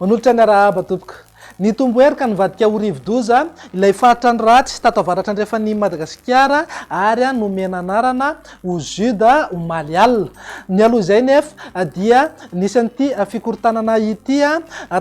Manolotra ny arahaba tompoko. Nitombo hery ka nivadika ho rivodoza ilay faritrano ratsy tato avaratra andrefan'i Madagasikara ary nomena anarana ho Juda omaly alina. Nialoha izay nefa dia nisy an'ity fikorontanana ity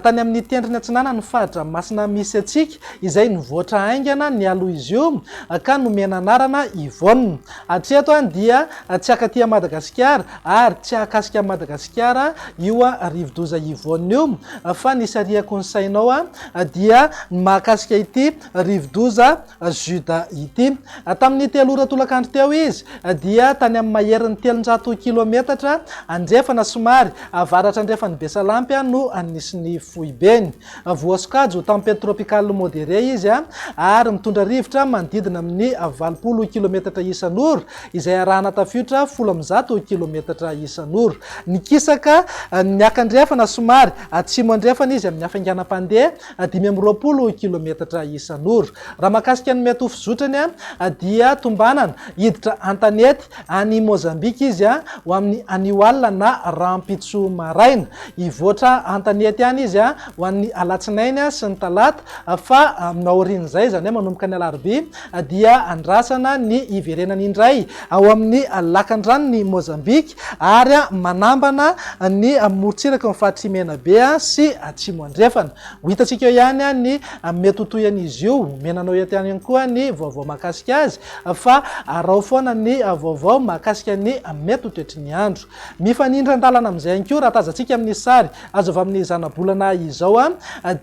tany amin'ny tendrony atsinanan'ny faritra masina misy antsika izay nivoatra haingana nialoha izy io ka nomena anarana Yvonne. Hatreto dia tsy akaty an'i Madagasikara ary tsy ahakasika an'i Madagasikara io rivodoza Yvonne io fa ny sariako ny sainao dia ny mahakasika ity rivodoza Juda ity. Tamin'ity alora tolakandro teo izy dia tany amin'ny maherin'ny telonjato kilometatra andrefana somary avaratra-andrefan'i Besalampy no nisy ny foibeny. Voasokajy ho tempête tropicale modérée izy ary mitondra rivotra manodidina amin'ny valopolo kilometatra isan'ora izay arahana tafiotra folo amby zato kilometatra isan'ora. Nikisaka niaka-andrefana somary atsimo-andrefana izy amin'ny hafainganam-pandeha dimy amby roapolo kilometatra isan'ora. Raha mahakasika ny miatoa fizotrany dia tombanana hiditra an-tanety any Mozambika izy ho amin'ny anio alina na rahampitso maraina. Hivoatra an-tanety any izy ho an'ny alatsinainy sy ny talata fa aorian'izay, izany hoe manomboka ny alarobia dia andrasana ny hiverenany indray ao amin'ny lakandranon'i Mozambika. ary manambana ny morontsiraky ny faritr'i Menabe sy Atsimo Andrefana. Ho hitantsika eo ihany ny mety ho tohin'izy io. Omena anao eto ihany koa ny vaovao mahakasika azy fa araho foana ny vaovao mahakasika ny mety ho toetry ny andro. Mifanindran-dalana amin'izay ihany koa, raha tazantsika amin'ny sary azo avy amin'ny zanabolana izao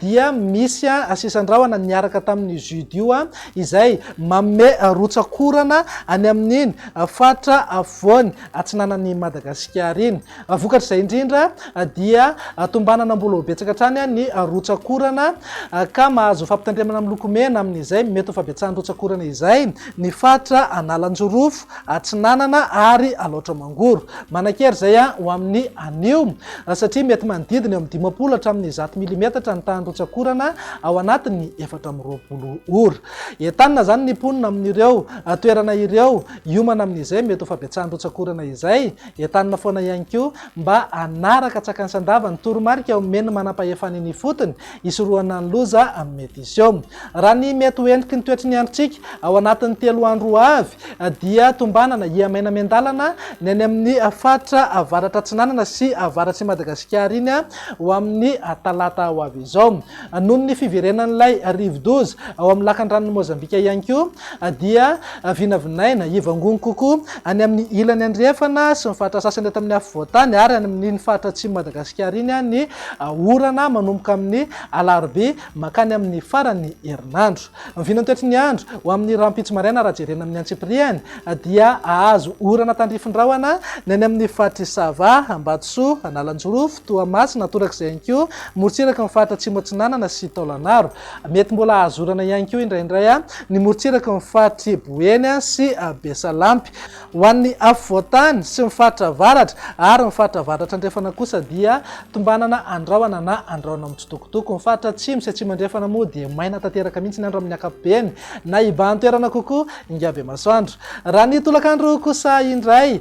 dia misy sisin-drahona niaraka tamin'ny judio izay manome rotsak'orana any amin'iny faritra afovoany atsinanan'i Madagasikara iny. Vokatr'izay indrindra dia tombanana mbola ho betsaka hatrany ny rotsak'orana ka mahazo fampitandremana miloko mena amin'izay mety ho fabetsahan'ny rotsak'orana izay ny faritra Analanjirofo Atsinanana ary Alaotra Mangoro. Manan-kery izay ho amin'ny anio. Raha satria mety manodidina eo amin'ny dimampolo hatramin'ny zato milimetatra ny tahan'ny rotsak'orana ao anatin'ny efatra amby roapolo ora. Entanina izany ny mponina amin'ireo toerana ireo hiomana amin'izay mety ho fabetsahan'ny rotsak'orana izay. Entanina foana ihany koa mba hanaraka tsakanisan-dava ny toromarika omen'ny manam-pahefana eny ifotony hisorohana ny loza amin'ny mety hisy eo. Raha ny mety ho heniky ny toetry ny androntsika ao anatin'ny telo andro ho avy dia tombanana hiha-maina miandalana ny any amin'ny faritra avaratra atsinanana sy avaratr'i Madagasikara iny ho amin'ny talata ho avy izao. Noho ny fiverenan'ilay rivodoza ao amin'ny lakandranon'i Mozambika ihany koa dia vinavinaina hivangongo kokoa any amin'ny ilany andrefana sy ny faritra sasany eto amin'ny afovoan-tany ary any amin'iny faritra atsimon'i Madagasikara iny ny Orana manomboka amin'ny alarobia mankany amin'ny faran'ny herinandro. Ny vinantoetry ny andro ho amin'ny rahampitso maraina raha jerena amin'ny antsipiriany dia hahazo orana tandrify rahona ny any amin'ny faritr'i Sava, Ambatosoa, Analanjirofo, Toamasina, torak'izay ihany koa morontsiraky ny faritra Atsimo Atsinanana sy Taolagnaro. Mety mbola hahazo orana ihany koa indraindray ny morontsiraky ny faritr'i Boeny sy Besalampy. Ho an'ny afovoantany sy ny faritra avaratra ary ny faritra avaratra-andrefana kosa dia tombanana andrahona na andrahona mitsitokotoko. Ny faritra atsimo sy atsimo-andrefana moa dia maina tanteraka mihitsy ny andro amin'ny ankapobeny na ibahan-toerana kokoa Ingabemasoandro. Raha ny tolakandro kosa indray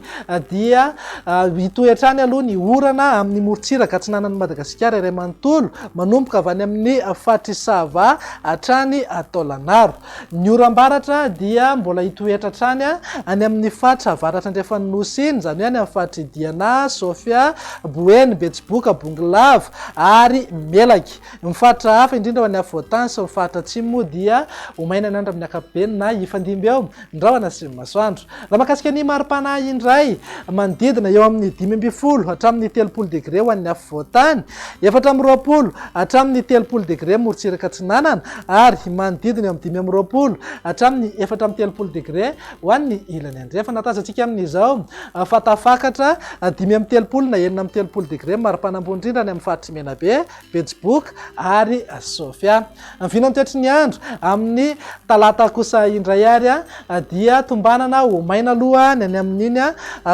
dia hitohy hatrany aloha ny orana amin'ny morontsiraka atsinanan'i Madagasikara iray manontolo, manomboka avy any amin'ny faritr'i Sava hatrany Taolagnaro. Ny oram-baratra dia mbola hitoetra hatrany any amin' ny faritra avaratr' andrefan' ny Nosy iny, izany hoe any amin' ny faritr' i Diana, Sofia, Boeny, Betsiboka, Bongolava ary Melaky. Ny faritra hafa, indrindra ho any afovoan-tany sy ny faritra atsimo moa dia ho mainan'andro amin' ny ankapobeny na hifandimby eo ny rahona sy ny masoandro. Raha mahakasika ny mari-panahy indray, manodidina eo amin'ny dimy ambin'ny folo hatramin'ny telopolo degre ho an'ny afovoan-tany, efatra amby roapolo hatramin'ny telopolo degre morontsiraka atsinanana ary manodidina eo amin'ny dimy amby roapolo hatramin'ny efatra amby telopolo degre ho an'ny ilany andrefana. Tazantsika amin'izao fa tafakatra dimy amby telopolo na enina amby telopolo degre mari-pana ambony indrindra any amin'ny faritr'i Menabe Betsiboka ary Sofia. Ny vinantoetry ny andro amin'ny talata kosa indray ary dia tombanana ho maina aloha ny any amin'iny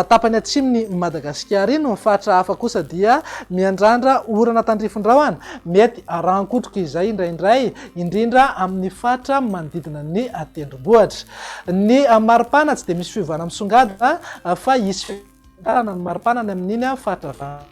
tapany atsimon'i Madagasikara iny. Ny faritra hafa kosa dia miandrandra orana tandrifin-drahona mety rahan-kotroka izay indraindray, indrindra amin'ny faritra manodidina ny tendrombohitra. Ny maripana tsy dia misy fiovana misongadina fa hisy fitantarana ny maripana ny amin'iny faritra avaratra.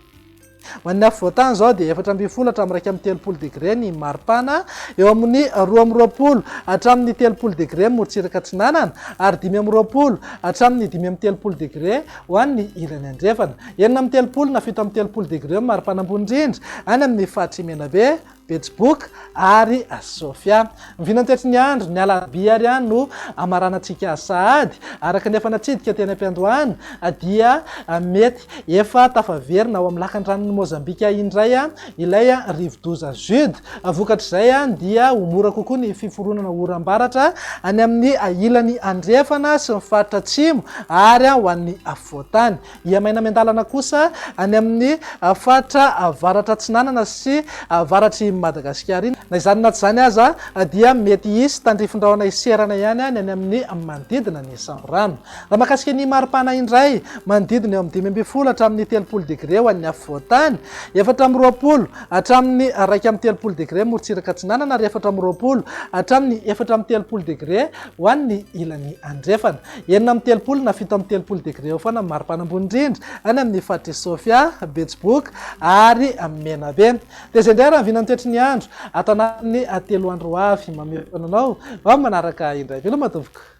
Ho an'ny afovoantany izao dia efatra ambin'ny folo hatramin'ny iraika amby telopolo degre ny maripana, eo amin'ny roa amby roapolo hatramin'ny telopolo degre ny morontsiraka atsinanana ary dimy amby roapolo hatramin'ny dimy amby telopolo degre ho an'ny ilany andrefana. Enina amby telopolo na fito amby telopolo degre ny maripana ambony indrindra any amin'ny faritry Menabe, Betsiboka ary Sofia. Ny vinantetry ny andro, ny alarobia ary an no amaranantsika sahady, araka ny efa natsidika teny am-piandohana, dia mety efa tafaverina ao amin'ny lakandranon'i Mozambika indray ilay rivodoza Jude. Vokatr'izay dia ho mora kokoa ny fiforonana oram-baratra any amin'ny ilany andrefana sy ny faritra atsimo ary ho an'ny afovoan-tany. Ia maina miandalana kosa any amin'ny faritra avaratra-atsinanana sy avaratr'i Madagasikara iny. Na izany na tsy izany aza dia mety hisy tandrifin-drahona hiserana ihany ny any amin'ny manodidina ny samborano. Raha mahakasika ny mari-pana indray, manodidina eo amin'ny dimy ambin'ny folo hatramin'ny telopolo degre ho an'ny afovoan-tany, efatra amby roapolo hatramin'ny iraika amby telopolo degre morontsiraka atsinanana ary efatra amby roapolo hatramin'ny efatra amby telopolo degre ho an'ny ilany andrefana. Enina amby telopolo na fito amby telopolo degre eo foana ny maripana ambony indrindra any amin'ny faritr'i Sofia, Betsiboka ary Menabe. Dia izay indray raha ny vinan'ny toetry ny andro ato anatin'ny telo andro ho avy. Mamehy foana anao ho amin'ny manaraka indray. Veloma tompoko!